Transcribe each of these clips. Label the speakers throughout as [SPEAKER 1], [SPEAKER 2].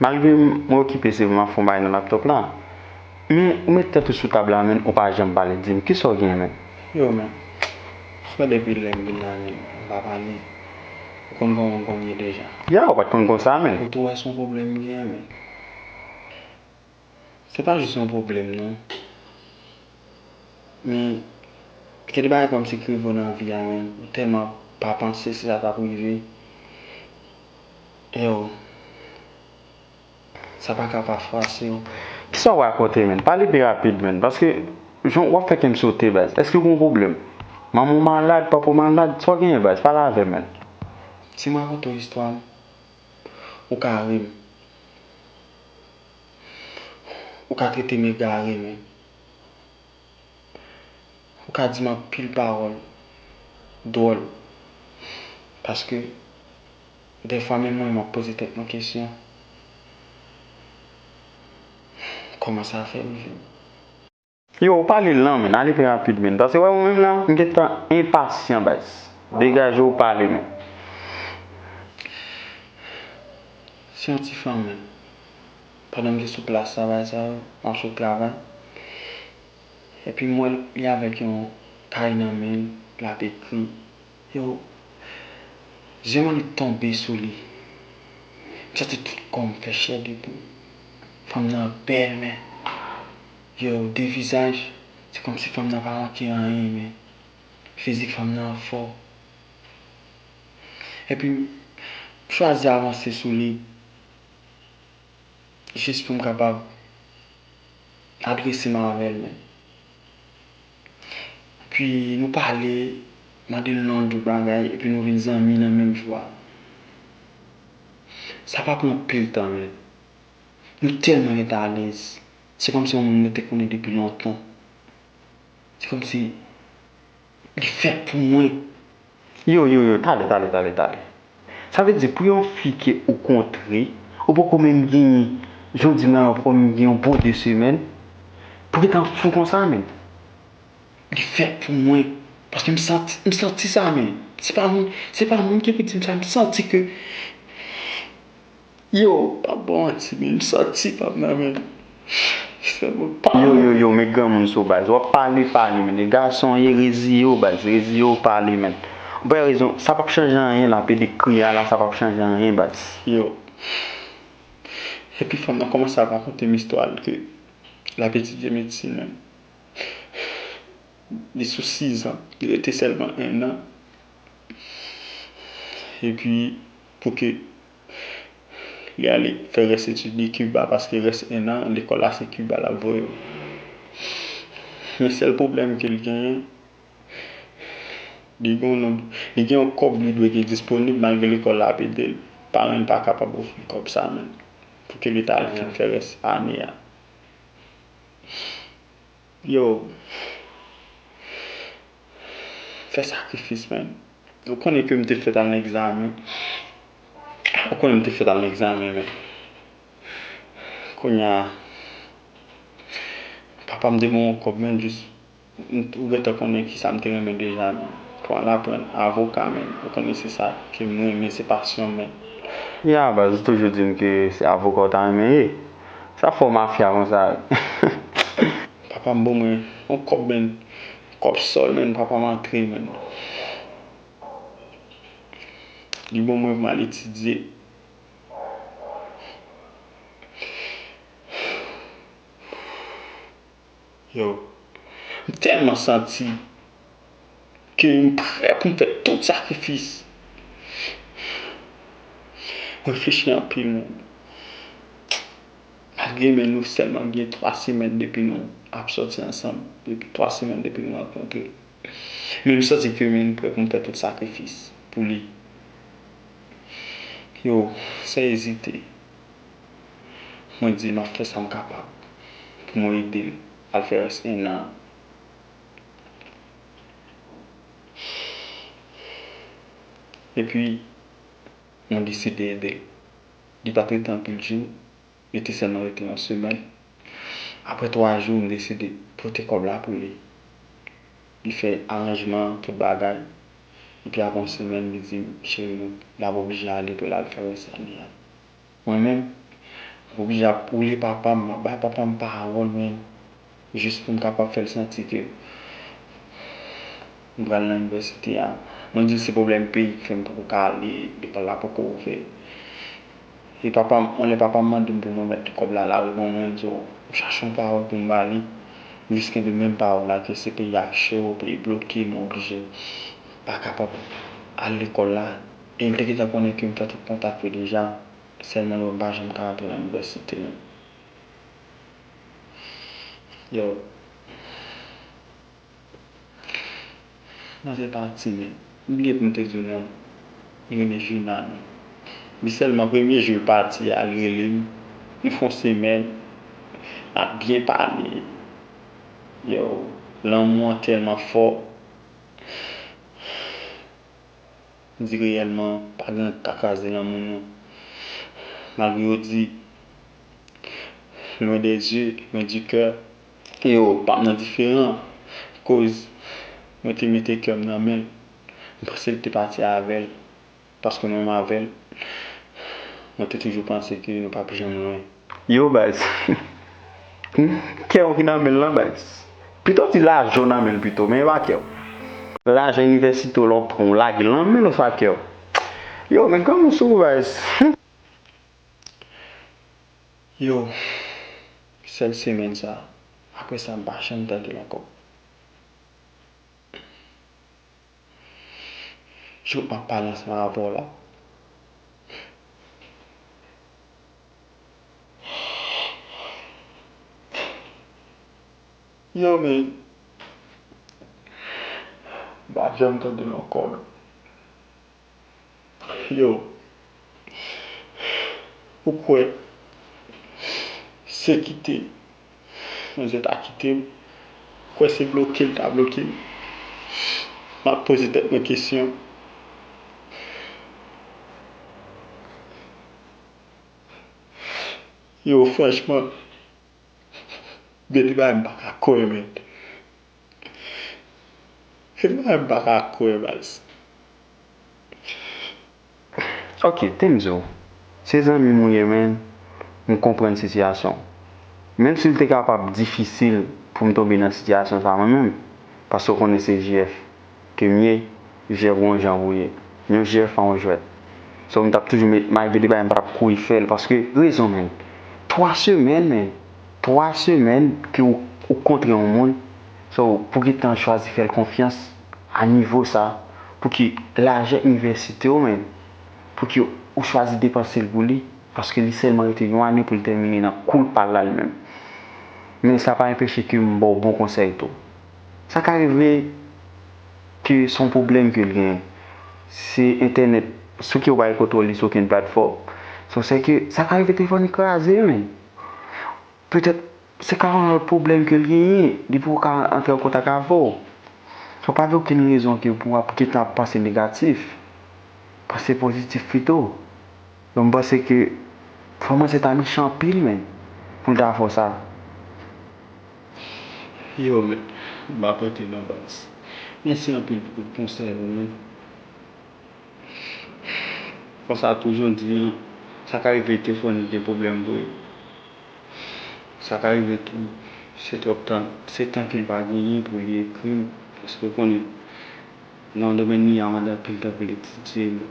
[SPEAKER 1] Malgre mwen okipe se vre map fon bagay nan laptop la men ou met tèt ou sou tab la menn ou pa janm pale dim kisa ou gen menn. Yo men
[SPEAKER 2] Frè depi lèm vin nan lim m pa pale ou konn kòman m konn ye deja. Ya ou pat konn konsa
[SPEAKER 1] menn. Ou tou wè son pwoblèm m
[SPEAKER 2] gen menn. Se pa jis yon pwoblèm non. Men, gen de bagay kòmsi ki rive w nan vi a men ou tèlman pa panse se sa k ap rive e w. Sa pa ka pa fwase w. Kisa w rakonte
[SPEAKER 1] menn? Pale pi rapid menn. Paske jan w ap fè kè m sote baz. Èske w gen yon pwoblèm? Manman w malad? Papa w malad? Sa w genyen baz? Pale avè m menn. Si m
[SPEAKER 2] rakonte w istwa m, ou ka ri m. Ou ka trete m egare men ou ka di m anpil pawòl dwòl paske dèfwa menm mwen m ap poze tèt mwen kesyon kòman sa fè rive m.
[SPEAKER 1] Yo ou pa lil nan menn ale pi rapid menn pase wè mwen menm la m gentan enpasyan baz degajew pale menn
[SPEAKER 2] se yon ti fanm menm pandan m te sou plas travay sa yo map sot travay epi m wèl li avèk yon kay nan menl lap ekri yo zye m annik tonbe sou li m santi tout kòm fè chè de poul fanm nan bèl men Yow de vizaj se komsi fanm nan pa manke anyen men fizik fanm nan fò epi m chwazi avanse sou li jis pou m kapab adrese m avè l men epi nou pale mande l non tout bagay epi nou vin zanmi nan menm jou a sa pa pran anpil tan men nou tèlman rete alèz Se kòmsi yon moun mwen te konnen depi lontan. Se kòmsi li fèt pou mwen. Yo, yo,
[SPEAKER 1] yo, tale, tale, tale, tale. Sa vle di pou yon fi ke ou kontre, ou poko menm genyen, jan w di m la, ou poko menm gen yon bon 2 semèn, pou gen tan w fou konsa menn. Li
[SPEAKER 2] fèt pou mwen. Paske m santi, m santi sa menn. Se pa moun, se pa moun ki pou di m sa, m santi ke. Yo pa bon manti menm santi pam nan menm fè mwen pa Yo
[SPEAKER 1] yo yo met granmoun sou baz wap pale pale menn e gason w ye reziye w baz reziye w pale menn ou pa rezon sa pap chanje anyen la pede kri a la sa pap chanje anyen baz. Yo.
[SPEAKER 2] Epi fanm nan komanse ap rakontem istwa l ke lap etidye medsin menm li sou 6 zan li rete selman 1 nan epi pou ke Li ale fè rès etid li Kiba paske rès 1 an lekòl la se Kiba l ap voye yo. Men sèl pwoblèm ke l genyen, li gen yon nonb, li gen yon kòb li dwe gen disponib malgre lekòl la ap ede l. Paran l pa kapab ofri l kòb sa menm pou ke li ta al fin fè rès ane a. Yo fè sakrifis man. Ou konnen ke m te fèt al nan egzamen. Ou konnen m te fèt al nan egzamen men kounya papa m te ban yon kòb men jis ou gentan konnen ki sa m te renmen deja men pou al aprann avoka men ou konnen se sa ke m renmen se pasyon m men. Ya baz
[SPEAKER 1] ou toujou di m ke se avoka ou ta renmen ye. Sa fò mafya konsa wi.
[SPEAKER 2] Papam bon mwen yon kòb menn kòb sòl menn papam antre menn li bon mwen pou mal etidye. Yow m tèlman santi ke m prè pou m fè tout sakrifis. M reflechi anpil moun. Malgre men nou sèlman gen 3 semèn depi nou ap sòti ansanm, depi 3 semèn depi nou rankontre. Men m santi ke men m prè pou m fè tout sakrifis pou li. Yow, san ezite. Mwen di l m ap fè sa m kapab pou mwen ede l al fè rès ennan an. Epi, mwen deside ede l. Li pa t rete anpil jou, li te sèlman rete yon semèn. Apre twa jou, m deside pote kòb la pou li. Li fè aranjman an, tout bagay. Epi apre yon semèn li di m, Cheri mwen, l ap oblije ale pou l al fè rèsèl li a. Mwen menm, m ap oblije ap boule papa m, m ap bay papa m pawòl menm, jis pou m kapab fè l santi ke m pral nan inivèsite a. Mwen di l se pwoblèm peyi ki fè m poko ka ale, lekòl la poko ouvè. E papa m, on lè papa m mande m pou m remèt kòb la lari bon mwen di w, m chache yon pawòl pou m ba li, m jis kenbe menm pawòl la ke se peyi a che w, peyi bloke, nou oblije pa kapab al lekòl la. E l te gentan konnen ke m fè tout kontak yo deja, sèlman l wè m pa janm ka antre nan inivèsite. Yo. Mwen se pa timid. M bliye pou m te di w non. Li rele Juna non. Li sèlman premye jou l pati a l rele m. Nou fè yon semèn n ap byen pale. Yow lanmou an tèlman fò. M di reyèlman pa gen anyen k ka kraze lanmou nou. Malgre yo di loin des yeux, loin du coeur, Yo pap nan diferan koz mwen te mete kè m nan men l. M panse l te pati avè l paske mwen menm avè l mwen te toujou panse ke nou pap janm lwen. Yo baz!
[SPEAKER 1] Kè w ki nan men l lan baz. Pito w di lajan w nan men l pito men e pa kè w. Lajan inivèsite w la w pran w lage l nan men l oswa kè w. Yo men kòman w sou baz!
[SPEAKER 2] Yo sèl semèn sa aprè sa m pa janm tandel ankò jouk map pale ansanm avè w la Yo men m pa janm tandel ankò men yo ou kwè se kite manzè ta kitem ou kwè se blokel ta blokem map poze tèt mwen kesyon. Yo franchman gen de bagay mpaka kwè men. Hi mwen menm paka kwè baz.
[SPEAKER 1] Ok Tenzo se zanmi m ou ye menn m konprann sitiyasyon w menm si l te kapab difisil pou m tonbe nan sitiyasyon sa mwen menm paske w konnen se JF. Kemie jè bon jan vouye Yon jè pa yon jwèt so mtap toujou met may pou li pa mpa tap kouri fèl paske rezon menn 3 semèn menn 3 semèn ke ou ou kontre yon moun so pou gentan chwazi fèl konfyans a nivo sa pouki lajè inivèsitew menn pouki ou chwazi depansel pou li paske li sèlman rete yon ane poul tèmine nan koul pal la li menm men sa pa enpeche kem baw bon konsèy tou. Sa ka rive ke se yon pwoblèm ke l genyen. Se entènèt sou ki ou pa gen kontwòl li sou okenn platfòm. Sou se ke sa ka rive telefòn li kraze menm. Petèt se ka yon lòt pwoblèm ke l genyen. Li poko ka antre an kontak avè w. Sa pa gen okenn rezon ke pou w ap gen tan ap panse negatif. Panse pozitif pito. Donk m panse ke fanm ansent a mechan anpil menm pou l ta fè w sa.
[SPEAKER 2] Yo men map antre nan baz. Mèsi anpil pou tout konsèy ou yo. Konsa tou jan w di an, sa ka rive te fò nou gen pwoblèm vre. Sa ka rive tou se twòp tan, se tan ke m pa genyen pou li ekri m. Paske ou konnen nan domèn li a mande anpil tan pou l etidye l.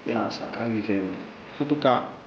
[SPEAKER 2] Ya sa ka rive vre. Antouka.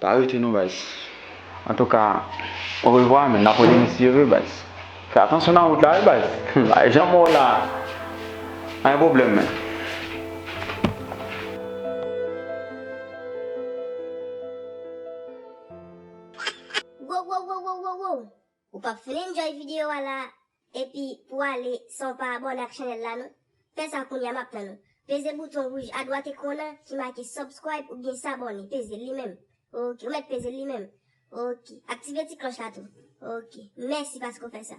[SPEAKER 2] Pa rete non baz. Antouka
[SPEAKER 1] orevwa men nap rele misye vre baz. Fè atansyon nan wout la wi baz. Ay jan mò la a gen pwoblèm men. Wowwowowowowoww ou pap fin enjoy
[SPEAKER 3] video a la Epi pou ale san w pa abòne ak chanèl la non. Fè sa kounya map tann ou. Peze bouton wouj adwat ekran w nan ki make subscribe oubyen s'abonner peze l li menm ok ou mèt peze l li menm ok aktive ti klòch la tou ok mèsi paske w fè sa.